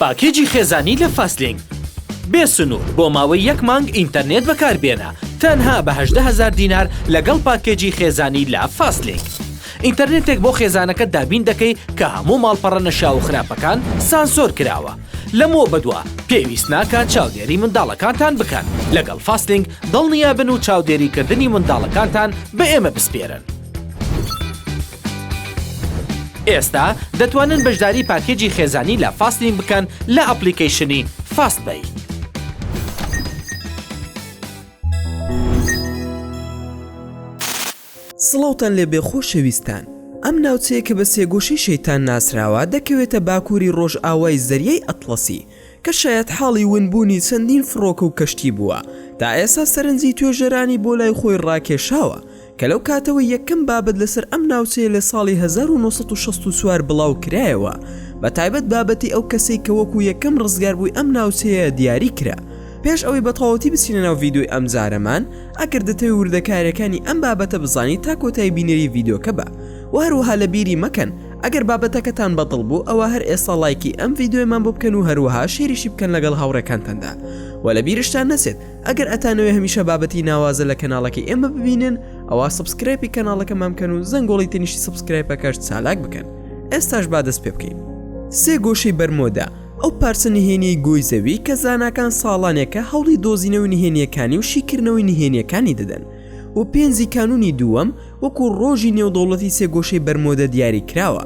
پاکێجی خێزانی لە فاستلینک بێ سنوور بۆ ماوەی یەک مانگ ئینتەرنێت بەکاربێنە تەنها بە هەژدە هەزار دینار لەگەڵ پاکێجی خێزانی لە فاستلینک ئینتەرنێتێک بۆ خێزانەکەت دابین دەکەی کە هەموو ماڵپەڕە نەشیاو و خراپەکان سانسۆر کراوە لەمەوە بەدوا پێویست ناکات چاودێری منداڵەکانتان بکەن لەگەڵ فاستلینک دڵنیابن و چاودێریکردنی منداڵەکانتان بە ئێمە بسپێرن. ئێستا دەتوانن بەشداری پاکێجی خێزانی لە فاستین بکەن لە ئەپلیکەیشنی فاست بەی. سڵاوتان لێ بێ خۆشەویستان ئەم ناوچەیە کە بە سێگۆشەی شەیتان ناسراوە دەکەوێتە باکووری ڕۆژئاوای زەریای ئەتڵەسی کە شایەتحاڵی ونبوونی چەندین فڕۆکە و کەشتی بووە، تا ئێستا سەرنجی توێژەرانی بۆ لای خۆی ڕاکێشاوە، کە لەو کاتەوەی یەکەم بابەت لەسەر ئەم ناوچەیە لە ساڵی هەزار و نۆ سەد و شەست و چوار بڵاو کرایەوە، بە تایبەت بابەتی ئەو کەسەی کە وەکوو یەکەم ڕزگاربووی ئەم ناوچەیە دیاری کرا. پێش ئەوەی بەتەواوەتی بچینە ناو ڤیدیۆی ئەمجارەمان، ئەگەر دەتەوێ وردەکارییەکانی ئەم بابەتە بزانیت تا کۆتایی بینەری ڤیدیۆکە بە، و هەروەها لەبیری مەکەن ئەگەر بابەتەکەتان بەدڵ بوو ئەوا هەر ئێستا ڵایکی ئەم ڤیددیۆیمان بۆ بکەن و هەروەها شێریشی بکەن لەگەڵ هاوڕێکانتاندا و لە بیرشتان نەچێت ئەگەر ئەتانەوێ هەمیشە بابەتی ناوازە لە کەناڵەکەی ئێمە ببینن ئەوا سبسکرێپی کەناڵەکەمان بکەن و زەنگۆڵی تەنیشی سبسکرایپەکەش چالاک بکەن ئێستاش با دەست پێ بکەین سێ گۆشەی بەرمۆدا ئەو پارچە نهێنیی گۆی زەوی کە زاناکان ساڵانێکە هەوڵی دۆزینەوەی نهێنیەکانی و شیکردنەوەی نهێنیەکانی دەدەن و پێنجی کانونی دووەم وەکو ڕۆژی نێودەوڵەتی سێگۆشەی بەرمۆدە دیاری کراوە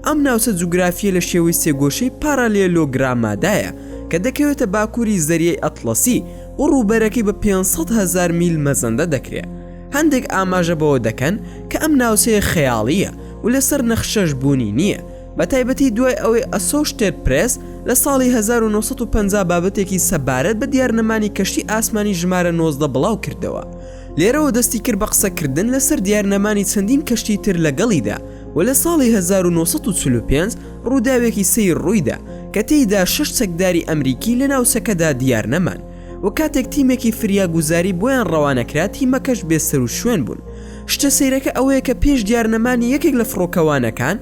ئەم ناوچە جوگرافیە لە شێوەی سێگۆشەی پارالێلۆگرامادایە کە دەکەوێتە باکووری زەریای ئەتڵەسی و ڕووبەرەکەی بە 500 هەزار میل مەزەندە دەکرێت هەندێک ئاماژە بەوە دەکەن کە ئەم ناوچەیە خەیاڵییە و لەسەر نەخشەش بوونی نییە بە تایبەتی دوای ئەوەی ئەسۆشتێد پرێس لە ساڵی هەزار و نۆ سەد و پەنجا بابەتێکی سەبارەت بە دیار نەمانی کەشتی ئاسمانی ژمارە نۆزدە بڵاو کردەوە لێرەوە دەستی کرد بە قسە کردن لە سەر دیار نەمانی چەندین کەشتی تر لە گەڵیدا و لە ساڵی هەزار و نۆ سەد و چل و پێنج ڕووداوێکی سەیر ڕوویدا کە تێیدا شەش چەکداری ئەمریکی لە ناوچەکەدا دیار نەمان و کاتێک تیمێکی فریاگوزاری بۆیان ڕەوانە کرا تیمەکەش بێ سەروشوێن بوون شتە سەیرەکە ئەوەیە کە پێش دیار نەمانی یەکێک لە فڕۆکەوانەکان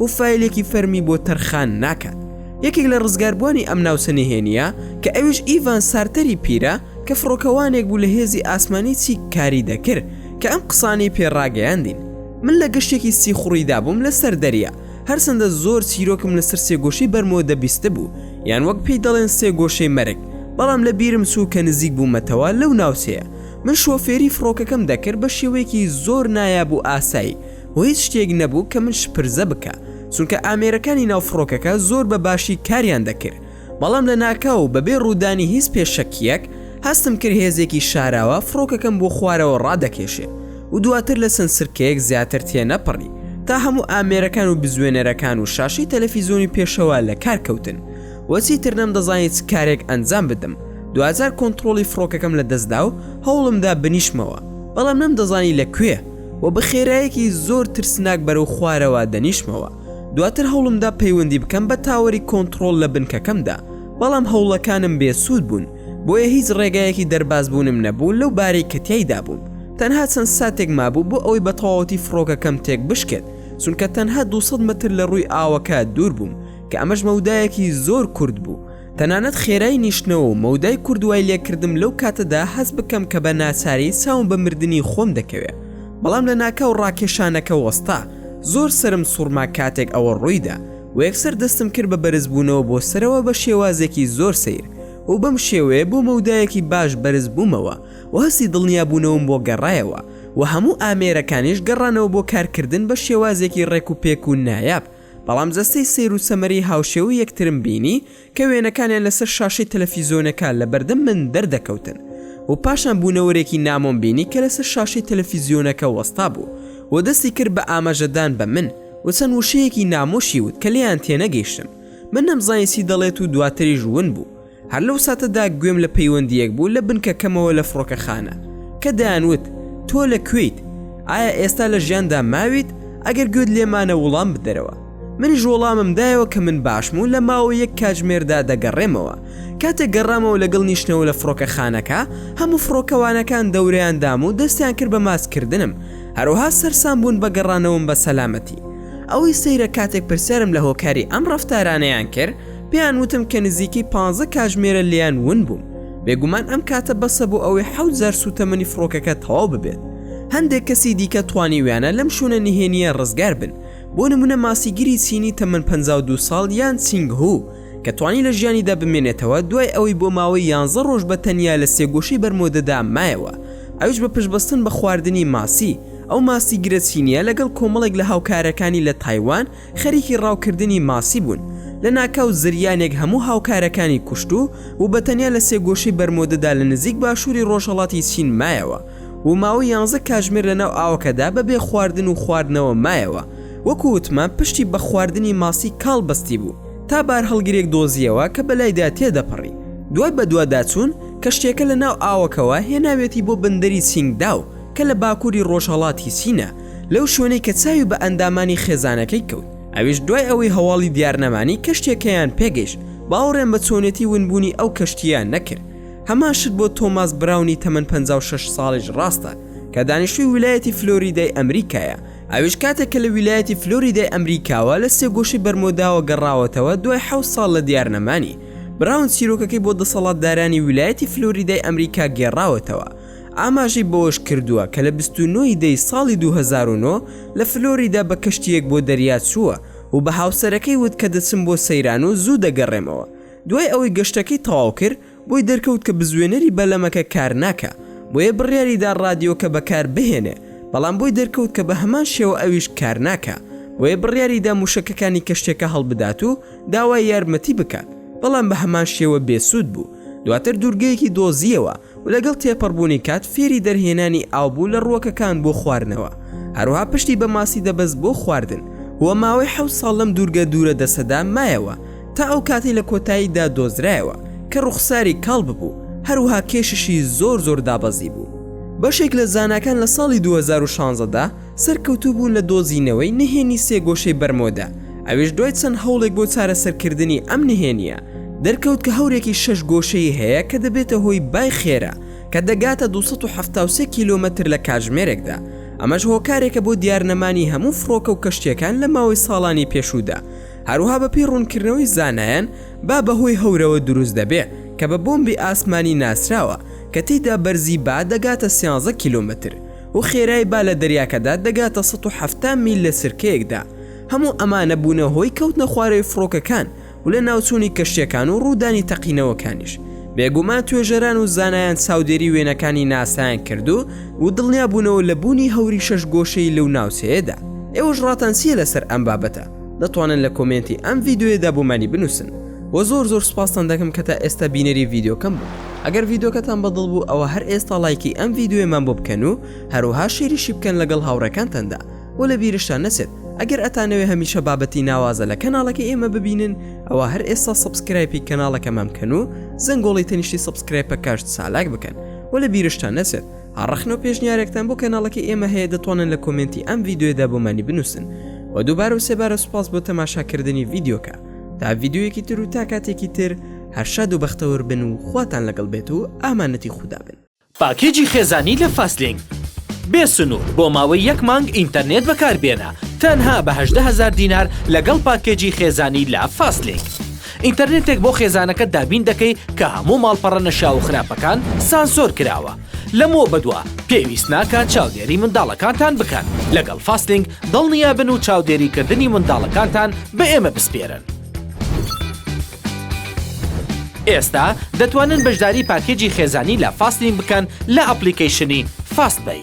و فایلێکی فەرمی بۆ تەرخان ناکات. یەکێک لە ڕزگاربووانی ئەم ناوچە نهێنییە، کە ئەویش ئیڤان سارتەری پیرە، کە فڕۆکەوانێک بوو لە هێزی ئاسمانی چیک کاری دەکرد، کە ئەم قسانەی پێ ڕاگەیاندین، من لە گەشتێکی سیخوڕیدا بووم لەسەر دەریا، هەرچەندە زۆر چیرۆکم لەسەر سێگۆشەی بەرمۆدە بیستبوو، یان وەک پێی دەڵێن سێگۆشەی مەرگ، بەڵام لە بیرم چوو کە نزیک بوومەتەوە لەو ناوچەیە، من شۆفێری فڕۆکەکەم دەکرد بە شێوەیەکی زۆر نایاب و ئاسایی، و هیچ شتێک نەبوو کە من شپرزە بکا چونکە ئامێرەکانی ناو فڕۆکەکە زۆر بە باشی کاریان دەکرد بەڵام لە ناکاو و بەبێ ڕوودانی هیچ پێشەکیەک هەستم کرد هێزێکی شاراوە فڕۆکەکەم بۆ خوارەوە ڕادەکێشێ و دواتر لە چەند چرکەیەک زیاتر تێنەپەڕی تا هەموو ئامێرەکان و بزوێنەرەکان و شاشەی تەلەفیزۆنی پێشەوە لە کار کەوتن وەچی تر نەم دەزانی چ کارێک ئەنجام بدەم دوجار کۆنتترۆڵی فڕۆکەکەم لە دەستدا و هەوڵمدا بنیشمەوە بەڵام نەم دەزانی لە کوێ و بە خێرایەکی زۆر ترسناک بەرەو خوارەوە دەنیشمەوە دواتر هەوڵمدا پەیوەندی بکەم بە تاوەری کۆنتڕۆل لە بنکەکەمدا بەڵام هەوڵەکانم بێسوود بوون بۆیە هیچ ڕێگایەکی دەربازبوونم نەبوو لەو بارەی کە تیایدا بووم تەنها چەند ساتێک مابوو بۆ ئەوەی بە تەواوەتی فڕۆکەکەم تێک بشکێت چونکە تەنها 200 مەتر لە ڕووی ئاوەکە دوور بووم کە ئەمەش مەودایەکی زۆر کورت بوو تەنانەت خێرای نیشتنەوە و مەودای کورت وای لێکردم لەو کاتەدا هەست بکەم کە بە ناچاری چاوم بە مردنی خۆم دەکەوێ بەڵام لە ناکاو ڕاکێشانەکە وەستا زۆر سەرم سوڕما کاتێک ئەوە ڕوویدا و یەکسەر دەستم کرد بە بەرزبوونەوە بۆ سەرەوە بە شێوازێکی زۆر سەیر و بەم شێوەیە بۆ مەودایەکی باش بەرز بوومەوە و هەستی دڵنیابوونەوەم بۆ گەڕایەوە و هەموو ئامێرەکانیش گەڕانەوە بۆ کارکردن بە شێوازێکی ڕێک و پێک و نایاب بەڵام جەستەی سەیر و سەمەرەی هاوشێوەی یەکترم بینی کە وێنەکانیان لەسەر شاشەی تەلەفیزیۆنەکە لە بەردەم من دەردەکەوتن و پاشان بوونەوەرێکی نامۆم بینی کە لەسەر شاشەی تەلەفیزیۆنەکە وەستا بوو و دەستی کرد بە ئاماژەدان بە من و چەند وشەیەکی نامۆشی وت کە لێیان تێنەگەیشتم من نەمزانی چی دەڵێت و دواتریش ون بوو هەر لەو ساتەدا گوێم لە پەیوەندیەک بوو لە بنکەکەمەوە لە فڕۆکەخانە کە دەیانوت تۆ لە کوێیت ئایا ئێستا لە ژیاندا ماویت ئەگەر گوێت لێمانە وڵام بدەرەوە منیش وەڵامم دایەوە کە من باشم و لە ماوە یەک کاتژمێردا دەگەڕێمەوە کاتێک گەڕامەوە لەگەڵ نیشتنەوە لە فڕۆکەخانەکە هەموو فڕۆکەوانەکان دەورەیان دام و دەستیان کرد بە ماسکردنم هەروها سەرسان بوون بە گەڕانەوەم بە سەلامەتی ئەوەی سەیرە کاتێک پرسیارم لە هۆکاری ئەم ڕفتارانەیان کرد پێیان وتم کە نزیکەی پانزە کاژمێرە لێیان ون بووم، بێگومان ئەم کاتە بەسە بۆ ئەوەی حەوت جار سووتەمەنی فڕۆکەکە تەواو ببێت. هەندێک کەسی دیکە توانیویانە لەم شوێنە نهێنییە ڕزگار بن، بۆ نموونە ماسیگری چینی تەمەن پەنجا و دوو ساڵ یان چینگ هو، کە توانی لە ژیانیدا بمێنێتەوە دوای ئەوەی بۆ ماوەی یانزە ڕۆژ بە تەنیا لە سێگۆشەی بەرمۆدەدا مایەوە، ئەویش بە پشتبەستن بە خواردنی ماسی. ئەو ماسیگرە چینییە لەگەڵ کۆمەڵێک لە هاوکارەکانی لە تایوان، خەریکی ڕاوکردنی ماسی بوون، لەناکاو زریانێک هەموو هاوکارەکانی کوشت و و بەتەنیا لە سێگۆشەی بەرمۆدەدا لە نزیک باشووری ڕۆژهەڵاتی چین مایەوە و ماوەی یانزە کاژمێر لەناو ئاوەکەدا بەبێ خواردن و خواردنەوە مایەوە، وەکو وتمان پشتی بە خواردنی ماسی کاڵ بەستیبوو تا بارهەڵگرێک دۆزییەوە کە بەلایدا تێدەپەڕی. دوای بەدواداچوون، کەشتییەکە لەناو ئاوەکەوە هێناویەتی بۆ بەندەری چینگداو کە لە باکووری ڕۆژهەڵاتی چینە، لەو شوێنەی کە چاوی بە ئەندامانی خێزانەکەی کەوت، ئەویش دوای ئەوەی هەواڵی دیارنەمانی کەشتیەکەیان پێگەیشت، باوەڕیان بە چۆنێتی ونبوونی ئەو کەشتییە نەکرد. هەمان شت بۆ تۆماس براونی تەمەن پەنجا و شەش ساڵیش ڕاستە، کە دانیشتووی ویلایەتی فلۆریدای ئەمریکایە، ئەویش کاتێک کە لە ویلایەتی فلۆریدای ئەمریکاوە لە سێگۆشەی بەرمۆداوە گەڕاوەتەوە دوای حەوت ساڵ لە دیارنەمانی، براون چیرۆکەکەی بۆ دەسەڵاتدارانی ویلایەتی فلۆریدای ئەمریکا گێڕاوەتەوە، ئاماژەی بەوەشکردووە کە لە بیست و نۆ ی دەی ساڵی دوو هەزار و نۆ لە فلۆریدا بە کەشتییەک بۆ دەریا چووە و بە هاوسەرەکەی وت کە دەچم بۆ سەیران و زوو دەگەڕێمەوە، دوای ئەوەی گەشتەکەی تەواوکرد بۆی دەرکەوت کە بزوێنەری بەلەمەکە کارناکا بۆیە بڕیاریدا ڕادیۆکە بەکاربهێنێ بەڵام بۆی دەرکەوت کە بەهەمان شێوە ئەویش کارناکا بۆیە بڕیاریدا موشەکەکانی کەشتیەکە هەڵبدات و داوای یارمەتی بکات بەڵام بەهەمان شێوە بێسوود بوو دواتر دوورگەیەکی دۆزییەوە و لەگەڵ تێپەڕبوونی کات فێری دەرهێنانی ئاو بوو لە ڕووەکەکان بۆ خواردنەوە، هەروەها پشتی بە ماسی دەبەست بۆ خواردن و ماوەی حەوت ساڵ لەم دوورگە دوورە دەستەدا مایەوە تا ئەو کاتەی لە کۆتاییدا دۆزرایەوە کە ڕووخساری کاڵ ببوو هەروەها کێششی زۆر زۆر دابەزیبوو. بەشێک لە زاناکان لە ساڵی دوو هەزار و شانزە دا، سەرکەوتوو بوو لە دۆزینەوەی نهێنی سێگۆشەی بەرمۆدە، ئەوێش دوای چەند هەوڵێک بۆ چارەسەرکردنی ئەم نهێنییە، دەرکەوت کە هەورێکی شەش گۆشەیی هەیە کە دەبێتە هۆی بای خێرا کە دەگاتە دوو سەد و حەفتا و سێ کیلۆمەتر لە کاتژمێرێکدا، ئەمەش هۆکارێکە بۆ دیارنەمانی هەموو فڕۆکە و کەشتییەکان لە ماوەی ساڵانی پێشوودا، هەروەها بەپێی ڕوونکردنەوەی زانایان با بەهۆی هەورەوە دروست دەبێ کە بە بۆمبی ئاسمانی ناسراوە کە تێیدا بەرزی با دەگاتە سیانزە کیلۆمەتر. و خێرای با لە دەریاکەدا دەگاتە سەد و حەفتا میل لە چرکەیەکدا، هەموو ئەمانە بوونە هۆی کەوتنە خوارەوەی فڕۆکەکان و لەناوچوونی کەشتیەکان و ڕوودانی تەقینەوەکانیش، بێگومان توێژەران و زانایان چاودێری وێنەکانی ناسایان کرد و و دڵنیابوونەوە لە بوونی هەوری شەش گۆشەی لەو ناوچەیەدا. ئێوەش ڕاتان چیە لەسەر ئەم بابەتە؟ دەتوانن لە کۆمێنتی ئەم ڤیدیۆیەدا بۆمانی بنووسن. وە زۆر زۆر سوپاستان دەکەم کە تا ئێستا بینەری ڤیددیوکەم بوون ئەگەر ڤیددیوکەتان بەدڵ بوو ئەوە هەر ئێستا لایکی ئەم ڤیددیوێمان بۆ بکەن و هەروها شیریشی بکەن لەگەڵ هاوڕێکانتاندا و لە بیرشتان نەچێت ئەگەر ئەتانەوێ هەمیشە بابەتی ناوازە لە کەناڵەکەی ئێمە ببینن ئەوە هەر ئێستا سبسکرایپی کەناڵەکەمان بکەن و زەنگۆڵی تەنیشتی سبسکرایپە کاشت سالاک بکەن و لە بیرشتان نەچێت هەڕەخن و پێشنیارێکتان بۆ کەناڵەکەی ئێمە هەیە دەتوانن لە کۆمنتی ئەم ڤیددیوێدا بۆمانی بنووسن و دووبارە و سێبارە سوپاس بۆ تەماشاکردنی ڤیددیوکە تا ڤیددیویەکی تر و تا کاتێکی تر هەرشاد و بەختەوەر بن و خواتان لەگەڵ بێت و ئامانەتی خودا بن. پاکێجی خێزانی لە فاستلینک. بێ سنوور بۆ ماوەی یەک مانگ ئینتەرنێت بەکاربێنە تەنها بە هەژدە هەزار دینار لەگەڵ پاکێجی خێزانی لە فاستلینک. ئینتەرنێتێک بۆ خێزانەکەت دابین دەکەی کە هەموو ماڵپەڕە نەشیاو و خراپەکان سانسۆر کراوە. لەمەوە بەدوا پێویست ناکات چاودێری منداڵەکانتان بکەن، لەگەڵ فاستینگ دڵنیا بن و چاودێریکردنی منداڵەکانتان بە ئێمە بسپێرن. ئێستا دەتوانن بەشداری پاکێجی خێزانی لە فاستینگ بکەن لە ئەپڵیکەیشنی فاست پەی.